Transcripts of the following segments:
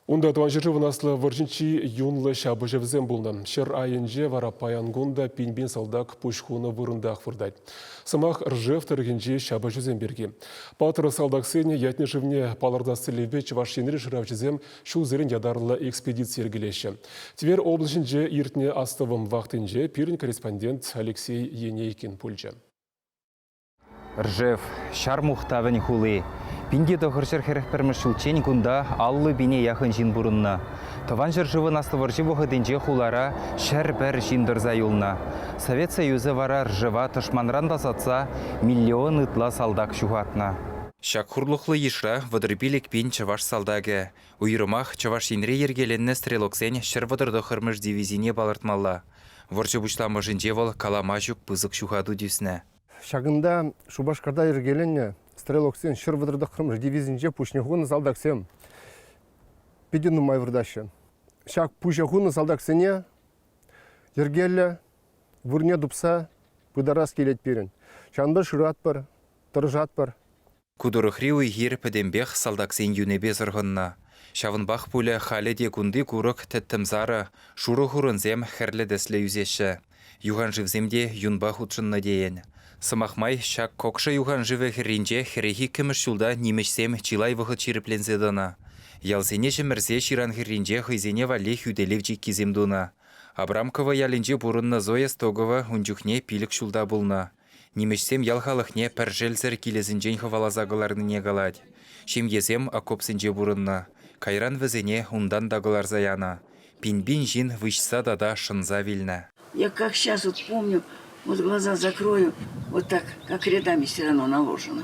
Унта Тӑван ҫӗршывӑн Аслӑ вӑрҫинчи юнлӑ ҫапӑҫӑвӗсем пулнӑ. Ҫӗр айӗнче вара паян кун та пин-пин салтак пуҫ хунӑ вырӑнтах выртать. Сӑмах Ржев тӑрӑхӗнчи ҫапӑҫусем пирки. Паттӑр салтаксене ятне-шывне палӑртас тӗллевпе Чӑваш Енри шыравҫӑсем ҫулсерен ятарлӑ экспедици йӗркелеҫҫӗ. Тверь облаҫӗнче иртнӗ астӑвӑм вахтинче пирӗн корреспондент Алексей Енейкин пулчӗ. Ржев, ҫар мухтавӗн хули. Пин те тӑхӑр ҫӗр хӗрӗх пӗрмӗш ҫулччен кунта аллӑ пине яхӑн ҫын пурӑннӑ. Тӑван ҫӗршывӑн Аслӑ вӑрҫи вӑхӑтӗнче хулара ҫӗр пӗр ҫын тӑрса юлнӑ. Совет Союзӗ вара Ржева тӑшманран тасатса миллион ытла салтак ҫухатнӑ. Ҫак хурлӑхлӑ йышра вӑтӑр-пилӗк пин чӑваш салтакӗ, уйрӑмах Чӑваш Енре йӗркеленнӗ стрелоксен ҫӗр вӑтӑртӑххӑрмӗш дивизине палӑртмалла. Вӑрҫӑ пуҫламӑшӗнче вӑл калама ҫук пысӑк ҫухату тӳснӗ. Ҫакӑнта Шупашкарта йӗркеленнӗ стрелоксен ҫӗр вӑтӑр тӑххӑрмӗш дивизинче пуҫне хунӑ салтаксем питӗ нумай выртаҫҫӗ. Ҫак пуҫа хунӑ салтаксене йӗркеллӗ вырӑнне тупса пытарас килет пирӗн. Ҫавӑнпа шыратпӑр, тӑрӑшатпӑр. Ку тӑрӑхри уй-хир пӗтӗмпех салтаксен юнӗпе сӑрхӑннӑ. Ҫавӑнпах пулӗ халӗ те кунти курӑк, тӗттӗм сарӑ, шурӑ хурӑнсем хӗрлӗ тӗслӗ ӳсеҫҫӗ. Юханшывсем те юнпа хутшӑннӑ тейӗн. Сӑмах май, ҫак Кокша юханшывӗ хӗрринче хӗрехи иккӗмӗш ҫулта нимӗҫсем чылай вӑхӑт ҫирӗпленсе тӑнӑ. Ялсене чӗмӗрсе ҫыран хӗрринче хӑйсене валли хӳтӗлев чиккисем тунӑ. Абрамково ялӗнче пурӑннӑ Зоя Стогово ун чухне пилӗк ҫулта пулнӑ. Нимӗҫсем ял халӑхне пӗр шелсӗр килӗсенчен хӑваласа кӑларнине калать. Ҫемьесем окопсенче пурӑннӑ. Кайран вӗсене унтан та кӑларса янӑ. Пин-пин ҫын выҫса тата шӑнса вилнӗ. Я как сейчас вот помню, вот глаза закрою, вот так, как рядами все равно наложено.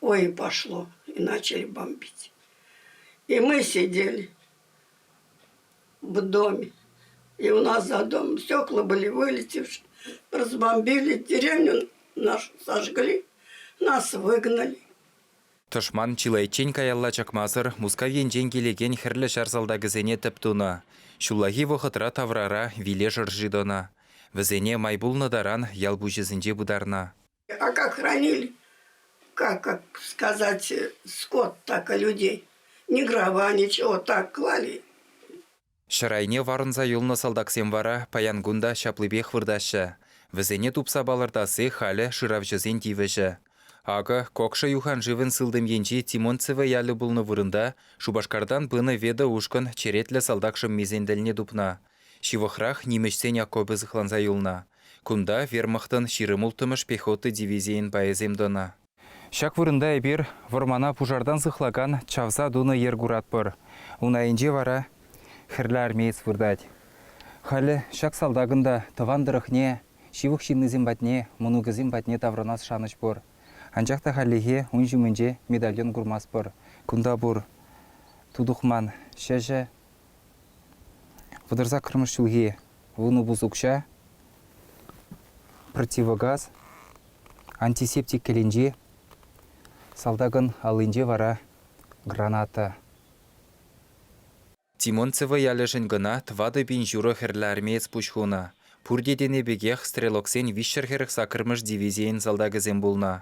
Ой, пошло, и начали бомбить. И мы сидели в доме, и у нас за домом стекла были вылетевшие, разбомбили деревню, нашу сожгли, нас выгнали. Тӑшман чылайччен каялла чакмасӑр Мускав енчен килекен хӗрлӗ ҫар салтакӗсене тӗп тунӑ. Ҫуллахи вӑхӑтра таврара виле шӑрши тӑнӑ. Вӗсене май пулнӑ таран ял пуҫӗсенче пытарнӑ. А как хранили, как, как сказать, скот так и людей, ни дрова, ничего, так клали. Ҫӗр айне варӑнса юлнӑ салтаксем вара паян кун та ҫаплипех выртаҫҫӗ. Вӗсене тупса палӑртасси халӗ шыравҫӑсен тивӗҫӗ. Акӑ, Кокша юханшывӗн сылтӑм енчи Тимонцево ялӗ пулнӑ вырӑнта Шупашкартан пынӑ Веда ушкӑн черетлӗ салтак шӑммисен тӗлне тупнӑ. Ҫывӑхрах нимӗҫсен окопӗ сыхланса юлнӑ. Кунта вермахтӑн ҫирӗм улттӑмӗш пехота дивизийӗн пайӗсем тӑнӑ. Ҫак вырӑнта эпир вӑрмана пушартан сыхлакан чавса тунӑ йӗр куратпӑр. Ун айӗнче вара хӗрлӗ армеец выртать. Халӗ ҫак салтакӑн та тӑван тӑрӑхне, ҫывӑх ҫыннисем патне, мӑнукӗсем патне таврӑнас шанӑҫ пур. Анчах та хальлӗхе ун ҫумӗнче медальон курмастпӑр. Кунта пур тутӑхман ҫӗҫӗ, Вӑтӑрсак кӑрмӑш ҫулхи вунӑ-пус укҫа, противогаз, антисептик кӗленчи, салтакӑн аллинче вара граната. Тимонцево ялӗшӗн кӑна тӑватӑ пин ҫурӑ хӗрлӗ армеец пуҫ хунӑ. Пурте тенӗ пекех стрелоксен виҫҫӗр хӗрӗх саккӑрмӗш дивизийӗн салтакӗсем пулнӑ.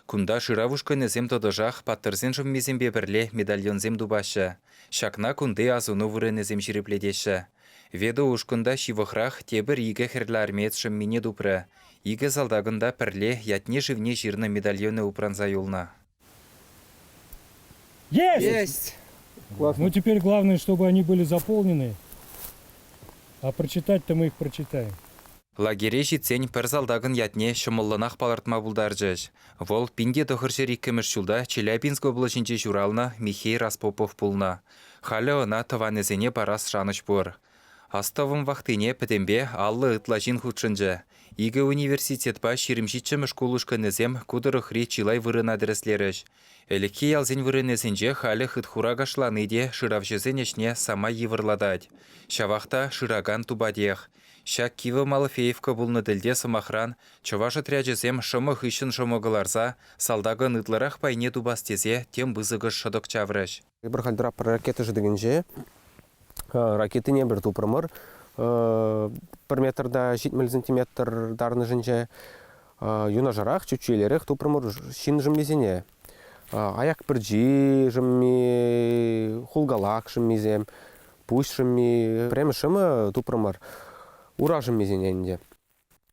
Кунта шырав ушкӑнӗсем тӑтӑшах паттӑрсен шӑммисемпе пӗрле медальонсем тупаҫҫӗ. Ҫакна кунти асӑну вырӑнӗсем ҫирӗплетеҫҫӗ. Ведо ушкӑн та ҫывӑхрах тепӗр икӗ хӗрлӗ армеец шӑммине тупрӗ. Икӗ салтакӑн та пӗрле ятне-шывне ҫырнӑ медальонӗ упранса юлнӑ. Есть! Есть! Ну теперь главное, чтобы они были заполнены. А прочитать-то мы их прочитаем. Лагере ҫитсен пӗр салтакӑн ятне ҫӑмӑллӑнах палӑртма пултарчӗҫ. Вӑл пин те тӑхӑр ҫӗр иккӗмӗш ҫулта Челябинск облаҫӗнче ҫуралнӑ Михей Распопов пулнӑ. Халӗ ӑна тӑванӗсене парас шанӑҫ пур. Астӑвӑм вахтине пӗтӗмпе аллӑ ытла ҫын хутшӑнчӗ. Икӗ университетпа ҫирӗм ҫиччӗмӗш шкул ушкӑнӗсем ку тӑрӑхри чылай вырӑна тӗрӗслерӗҫ. Ӗлӗкхи ялсен вырӑнӗсенче халӗ хытхура кашлани те шыравҫӑсен ӗҫне самай йывӑрлатать. Ҫавах та шыракан тупатех. Ҫак кивӗ Малфеевка пулнӑ тӗлте, сӑмахран, чӑваш отрячӗсем шӑмӑ хыҫҫӑн шӑмӑ кӑларса салтакӑн ытларах пайне тупас тесе тем пысӑкӑш шӑтӑк чаврӗҫ. Эпир халь тӑраппӑр ракета шӑтӑкӗнче. Ракетине эпир тупрӑмӑр. Пӗр метрта ҫитмӗл сантиметр тарӑнӑшӗнче юнашарах чӳччӳелерех тупрӑмӑр ҫын шӑммисене. Аяк пӗрчи шӑмми, хулкалак шӑммисем, пуҫ шӑмми, пӗрремӗш шӑмӑ тупрӑмӑр ура шӑммисене ӗнтӗ.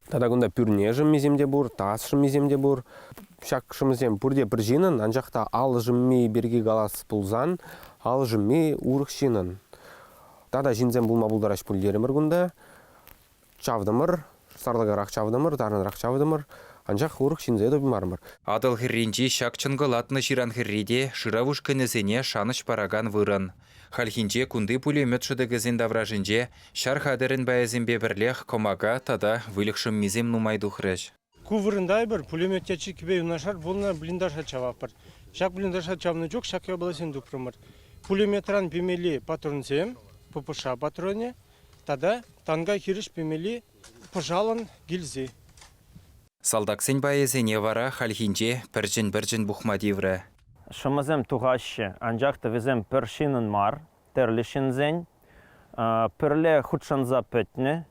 Тата кунта пӳрне шӑммисем те пур, тас шӑммисем те пур. Ҫак шӑмӑсем пурте пӗр ҫынӑн, анчах та ал шӑмми пирки калас пулсан, ал шӑмми урӑх ҫынӑн. Тата ҫынсем пулма пултараҫ пуль терӗмӗр кунта. Чавтӑмӑр, сарлакарах чавтӑмӑр, тарӑнрах чавтӑмӑр, анчах урӑх ҫынсе тупмарӑмӑр. Атӑл хӗрринчи ҫак чӑнкӑлатнӑ ҫыран хӗррипе шырав ушкӑнӗсене шанӑҫ паракан вырӑн. Хальхинче кунти пулемет шӑтӑкӗсен таврашӗнче ҫар хатӗрӗн пайӗсемпе пӗрлех кӑмака тата выльӑх шӑммисем нумай тухрӗҫ. Ку вырӑнта эпир пулемета чиккипе юнашар пулнӑ блиндажа чаватпӑр. Ҫак блиндажа чавнӑ чух ҫак япаласем тупрӑмӑр. Пулеметран пемелли патронсем, ППШ патронӗ тата танка хирӗҫ пемелли пӑшалӑн гильзи. Салтаксен пайӗсене вара хальхинче пӗрчӗн-пӗрчӗн пухма тиврӗ. Шӑмӑсем тухаҫҫӗ, анчах тӑвӗсем пӗр ҫынӑн мар, тӗрлӗ ҫынсен пӗрле хутшӑнса пӗтнӗ.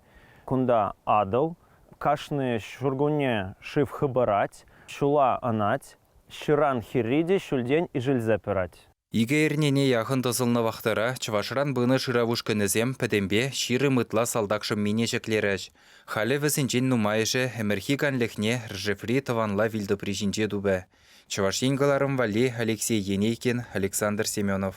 Кунта Атӑл кашни ҫуркунне шыв хӑпарать, ҫула ӑнать, ҫыран хӗрри те ҫӳлтен ишӗлсе пырать. Икӗ эрнене яхӑн тӑсӑлнӑ вахтӑра чӑвашран пынӑ шырав ушкӑнӗсем пӗтӗмпе ҫирӗм ытла салтак шӑммине ҫӗклерӗҫ. Халӗ вӗсенчен нумайӑшӗ ӗмӗрхи канлӗхне Ржеври тӑванла вилтӑпри ҫинче тупӗ. Чӑваш Ен кӑларӑм валли, Алексей Енейкин, Александр Семенов.